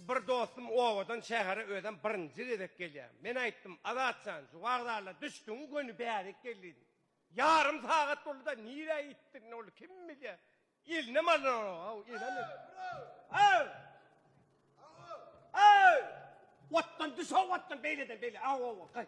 Bir dostum obadan şähere özem birinji gezek gelýär. Men aýtdym, Azat jan, şu wagzala düşdüňi göni bärik gel diýdim. Ýarym sagat boldy-da, nirä gitdigini ol kim bilýär. Elinem alynanok-ow, elem et. Aw! Aw! Otdan düş-ow, otdan, beýleden, beýle, aw-ow, gaý.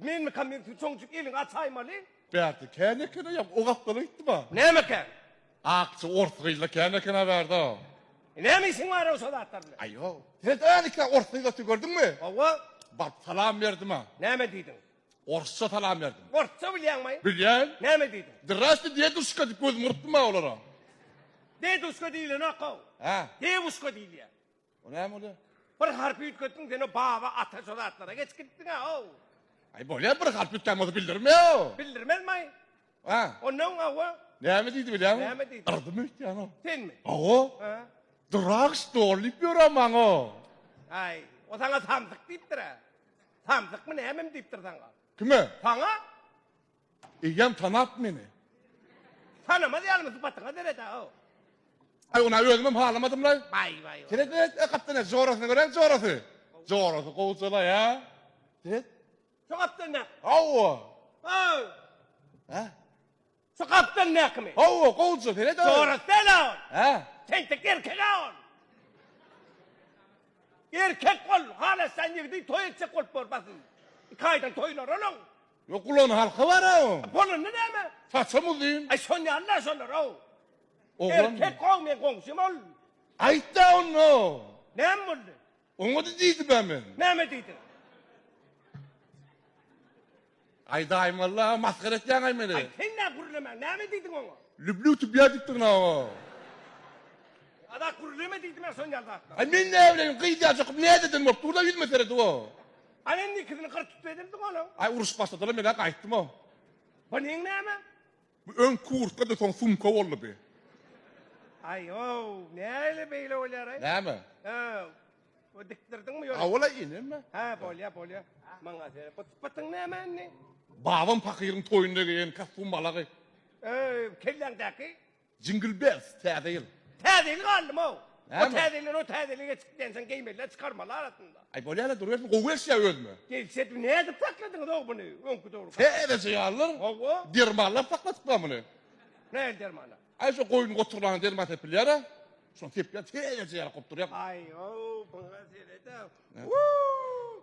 Menmikam men sizi çonçuk eliňi açaýmaly? Bärde kän ekena ýa o gapdala gitdiba? Näme kän? Akja ors gyzda kän ekena bärde. Näme işiň bar-a şo zatlar bilen? Aý ýok. Sen öňki ors gyzda gördüňmi? Hawa. Baryp salam berdim-ä. Näme diýdiň? Orsça salam berdim. Orsça bilýäňmi? Bilýän. Näme diýdiň? Zdraste deduşka diýip gözümi gyrpdym-ä olara. Deduşka diýlenok-ow. Hä? Dewuşka diýilýär. O näme bolýar? Bir harpy üýtgetdiň sen o baba ata şo zatlara geçip gidipdiň a ow. Aý bolýar bir harpy üýtgän bolsa bildirme ow. Bildirmezmaý. A. Onda öň awa. Näme diýdi bilýäňmi? Näme diýdi? Yrdymy öýtýän ow. Senmi? Awa. Ha. Durak stol diýip ýörä maňa ow. Aý o saňa samsyk diýipdir a. Samsykmy nämemi diýipdir saňa. Kime? Saňa. Eýýäm tanap meni. Tanamaz ýalymy sypatyňa sereda-ow. Aý ony-a özümem halamadym-laý. Baý, baý. Seret, seret, e, gapdan-a jorasyny görä, jorasy. Jorasy gowja-laý-a. Seret. Şu gapdan näk? Hawa. Haw. Hä? Şu gapdan näkimi? Hawa, gowja, seret-a. Jorasy däl-ä ol. Hä? Tentek erkek-ä ol. Erkek ol, halaşýan ýigidi toý etjek bolup bor, basym. Iki aýdan toýlary onuň. Ýok gulagynyň halky bar-a oň. Bolanda näme? Saçam uzyn. Aý şon ýaly-da şolar-ow. Oglan. Erkek-ow meň goňşym ol. Aýt-da onda. Näme boldy? Oňa-da diýdim-ä men. Näme diýdiň? Aý daýym walla masgara etýäň-aý meni. Aý sen nä gürlemäň, näme diýdiň oňa? Lüblüw tübýä diýipdirin oňa. Azat gürleme diýdim-ä şon ýaly zatlar. Aý men näbileýin gyzýajykym näzeden bolup dur-da ýüzüme seredip-ow. Al indi ikisini gyr tut edildi onuň. Ay uruş başladylar men daha gaýtdym o. Bu neň näme? Bu öň kurtka da soň sumka boldy bi. Ay o näle beýle bolýar ay. Näme? Ha. Bu dikdirdiňmi ýöne? Awala ineme. Ha bolýa bolýa. Maňa sen bu sypatyň näme indi? Babam pakyryň toýunda geýen kostum balagy. Öý kelläňdäki? Jingle bells täze ýyl. Täze ýyl galdymow. O täze ýyldan o täze ýyla geçdik diýensoň geýmeliler çykarmaly arasynda. Aý bolýaly durýasyn gowy gelişýä özüme. Gelişýä diýip nädip sakladyňyz ow buny öňki dogry. Täzeje ýalydyr. Hawa. Dermanlap sakladyplar muny. Nähili dermanlar? Aý şu goýun goturlana derman sepilýära. Şony sepýär täzeje ýaly gowy durýa. Aý ow buňa seredä. Wuu.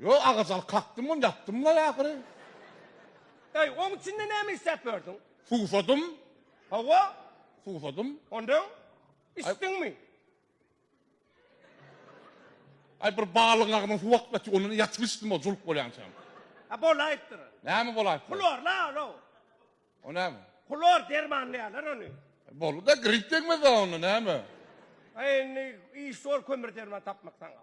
Ýok, agaç alyp kakdym-ony ýapdym-laý ahyry. Eý, oň içinde näme isläp ýördüň? Suwsadym. Hawa? Suwsadym. Ondan? Içdiňmi? Aý, bir balygyň agzyna suw akyp ýatyr, ondan ýatyp içdim, ol juluk bolýançam. A, bolaýypdyr. Näme bolaýypdyr? Hlor-la ol-ow. O näme? Hlor dermanlaýarlar ony. Boldy-da, grip degmez-ä onda, näme? Aý, indi iş zor kömür-derman tapmak saňa.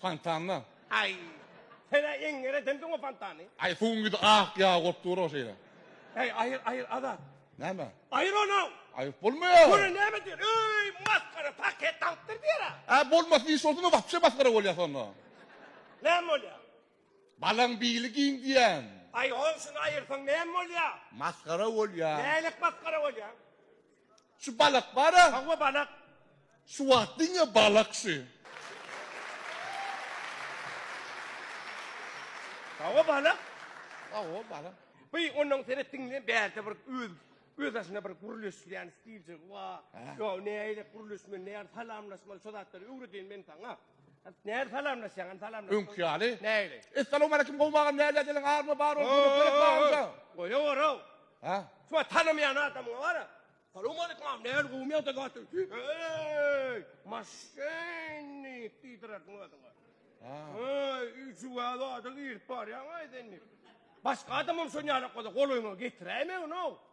Fontanda. Aý. Sen-ä eňňer edemsiň o fontany. Aý, suwuň ýüzi ak ýagy bolup dur-ow şeýle. Äý, aýyr, aýyr, Azat. Näme? Aýyr ony-ow! Aýyryp bolmaýar. Görä näme diýer? Öý, masgara, paket alypdyr diýer-ä. Ä, bolmasyn, iş bolsun-da, wapşe masgara bolýas onda. Näme bolýar? Balaň bili giň diýýän. Aý, goňşyny aýyrsaň näme bolýar? Masgara bolýar. Nälik masgara bolýar? Şu balak bara. Hawa balak. Şu wagt diňe balak şu. Hawa balak. Hawa balak. By onuň seret diňle bärde bir öz öz aşyna bir gürleşýän stilje wa. Yo näýle gürleşmeli näýle salamlaşmaly şu zatlary öwredýän men saňa. Näde salamlaşýaň? Salamlaş. Öňki ýaly. Näli? Essalamu aleyküm gowy agam näle diýen army bar ol kömek gerek barmyka? Goýa gora. Ha? Şu tanamaýan adamyň bara. Salamu aleyküm agam näli gowmy ýa-da gaty? Eý! Maşynny diýdirerdiň özüňe. Ha. Eý, üçi wada adam girip barýaň aý sen. Başga adamam şoň ýaly gola golaýyňa getiräýme onu.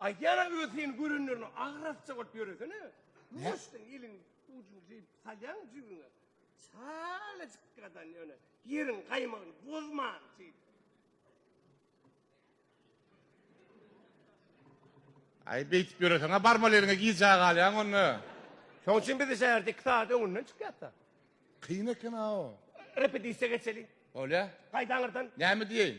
Aýdýara öz seni görenlerine agrasja bolup ýöresene. Muşdyň iliň ujuny jyýyp salýaň jübüňe. Çalajyk gadan ýöne ýeriň gaýmagyny bozman jyý. Aý beýtip ýöreseňä barmaly eliňe gijä galýaň onda. Şoň üçin biz şäherde iki sagat öňünden çykýasda. Kyn eken-a o. Repetisiýa geçeli. Bolýa. Gaýdaňyrdan. Näme diýeýin?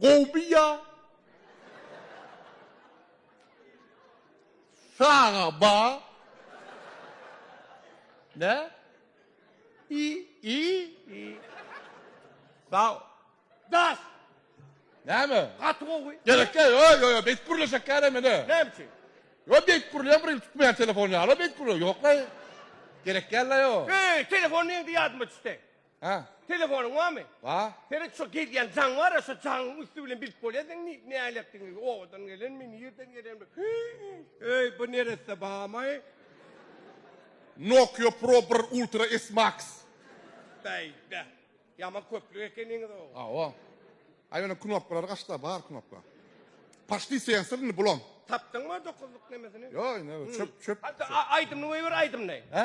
Gowy ýa. Saga ba. Ne? İ i i. Sa. Das. Näme? Gaty gowy. Gerek ýok. Ýok ýok ýok. Beýt gurle şeker eme ne? Näme üçin? Ýok beýt gurle bir ýyl tutmaýan telefon ýaly beýt gurle ýok la. Gerek ýaly ýok. Eý telefon neýdi ýadyma düşse. Hä? Telefonyň barmy? Bar. Seniň şu gelýän jaň bar-a, şu jaňyň üsti bilen bilip bolýar seň ni- näledigňi, obadan gelenmi, nirden gelenmi? Öý, bu neresse barmy? Nokia Pro bir Ultra S Max. Beýde. Ýaman köplük ekeniňiz-ow. Hawa. A ýöne knopkalary gaçda, bar knopka. Paçli sensor indi bulam. Tapdyňmy dokuzlyk nemesini? Ýok, indi çöp, çöp. Hatda a- aýdymyny goýber, aýdymyny. Hä?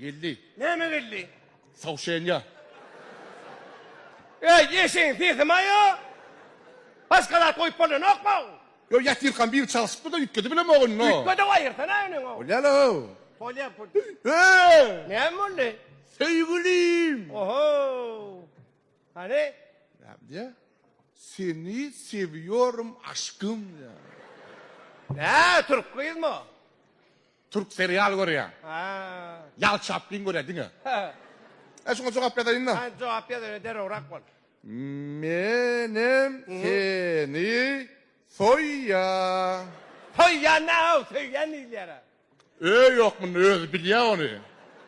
Geldi. Näme geldi? Sawşenýa. Eý, eşegiň sesimi-aýo! Başga zat goýup bolýanokmy? Ýok, ýatyrkam biri çalşypdy-da, üýtgedip bilem ogyn, no. Üýtgedip aýyrsana iniňi. Bolýar-ow. Bolýar, bolýar. Eý! Näme boldy? Söýgülim! Oho! Hany? Näme diýýär? Seni sewiyorum aşkym diýýär. Nä, türk gyzmy o? Türk serial görýär. Ha. Ýal Çaplin görýär diňe. Ha. E şuňa jogap ýazaýyn-da. Ha, jogap ýaz öýle derrewrak bol. Menem seni soýýa. Soýýan nä-ow, söýýän diýilýär-ä. Öý ýok munda özi bilýä ony.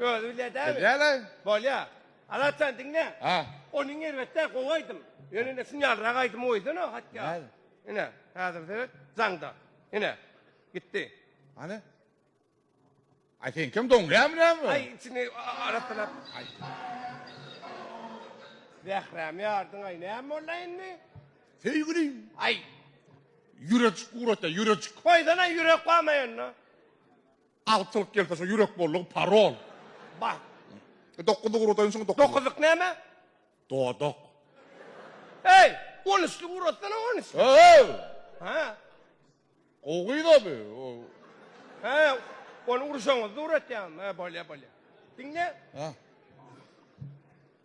Özi bilýä däl. Bilýäle. Bolýa. Alatjan diňle. Ha. Onyň erbetde gowy aýdym. Ýöne indi şuny ýalrak aýdymy goýsan o hatda. Näde? Ine, häzir seret, jaňda. Ine. Gitdi. Hany? Aý sen kim doňýamy näme? Aý içini aratdylap. Aý. Zährämi ýardyň aý näme boldy indi? Söýgülim. Aý. Ýürejik ugrata, ýürejik. Goýsana ýürek goýmaýanda. Altylyk gelse şo ýürek bollugy parol. Bar. Dokuz ugrataýyn şoň dokuz. Dokuzlyk näme? Dodak. Eý, on üçlük ugratsana on üçlük. Öööw. Hä. Gowy gyz-a bu. Hä, ony urşaňyzda ugratýaryn. Hä, bolýar, bolýar. Diňle. Hä.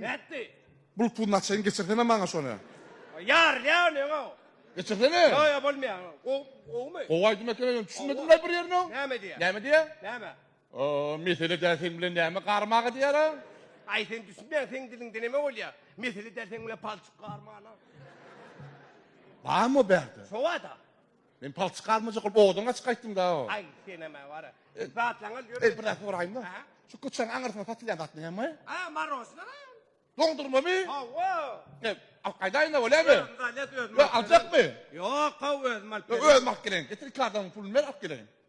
Nätdi? Bul pul naçein geçirsene maňa şony. Ýarylýar ony öňe. Geçirsene. Ýo ýo bolmaýar. Gowy gowymy? Gowy aýdym ekeni ýöne düşünmedim laý bir ýerine. Näme diýýär? Näme diýýär? Näme? Oo mesele däl seň bilen näme garmaga diýýär a. Aý sen düşünmeýäň seň diliňde näme bolýar? Mesele däl seň bilen palçyk garmana. Barmy o bärde? Şobada. Men palçyk galmajak bolup owadan gaçyp gaýtdym-da. Aý, senem-ä wara. Zatlaňyz ýörün. Eý, bir zat soraýyn-da. Hä? Şu köçäň aňyrsyna satylýan zat näme? A, marosna lan. Doňdurmamy? Hawa. Ep, alyp gaýdaýyn-da, bolýamy? Özüňiz alýas, özüm alyp geleýin. Yo, aljakmy? Ýok, haw, özüm alyp geleýin. Yo, özüm alyp geleýin. Getir iki adamyň puluny ber, alyp geleýin.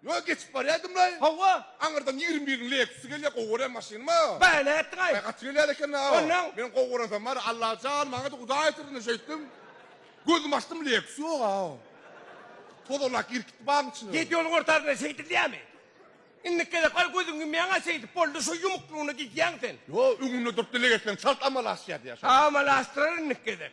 Ýol geçip barýadymlaý. Hawa. Aňyrdan ýigrimi biriň Lexusy gelýär, gowy görýän maşynymyz. Baý nätdiň-aý? Baý gaty gelýär eken-aw. Onnoň? Men gowy görensem bar, Alla jan, maňa-da Hudaý ýetirsin şeýtdim. Gözümi açdym, Lexus ýog-aw. Tozalak girip gitdi bagyň içine. Ýedi ýoluň ortasynda şeýdilýärmi? Indiki gezek bar gözüňi ýumýaň-a şeýdip, boldy, şu ýumuklygyna gidýäň sen. Ýo, öňünde durup dileg etseň çalt amala aşýar diýýär şoňa. Amala aşdyrar indiki gezek.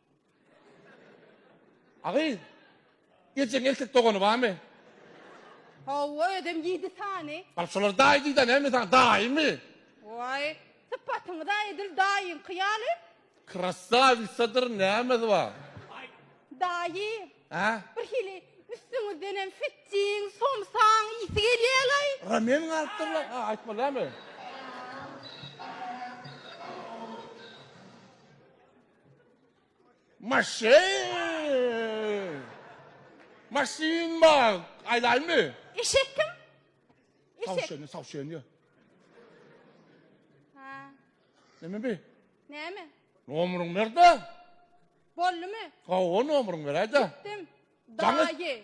Agy, geljegiň erkek dogany barmy? Hawa, özem ýedi sany. Bar, şolar daýy diýdä näme saňa, daýymy? Waý, sypatyňyz-a edil daýyňky ýaly. Krassawisadyr nämesi bar? Daýy, Hä? bir hili üstüňizdenem fittiň, somsaň ysy gelýä-laý. Ramen galypdyr-la, a, aýtma näme? Maşyn! Maşyn bar! Aýdaýmy? Eşek kim? Eşek. Tawşany, tawşany ýa. Ha. Näme bi? Näme? Nomeriň berde? Boldumy? Hawa, nomeriň beräýde. Dim. Daýy.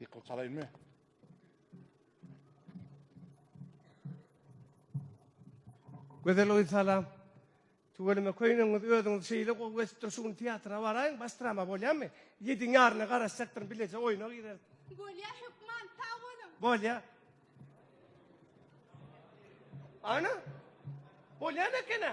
Ýykylyp salaýynmy? Gözel oý salam. Tüweleme köýnegňiz özüňiz şeýle gowy geçipdir şu gün teatra baraýyň baş drama bolýamy? Ýediň ýaryna garaşjakdyryn bileje oýna gireris. Bolýa hökman sag boluň. Bolýa. Ana. Bolýam ekena.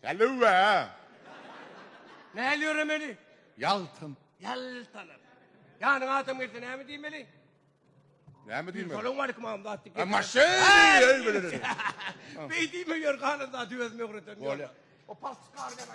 Hallöö! Näl ýöremeli? Ýaltan. Ýaltanyp. Ýanyňa adam gelse näme diýmeli? Näme diýmeli? Salam aleýkum agam zat diýip. Maşyn! Beý diýme ýör galan zady özüme öwrederin. Bolýa. O palçyk gary näme?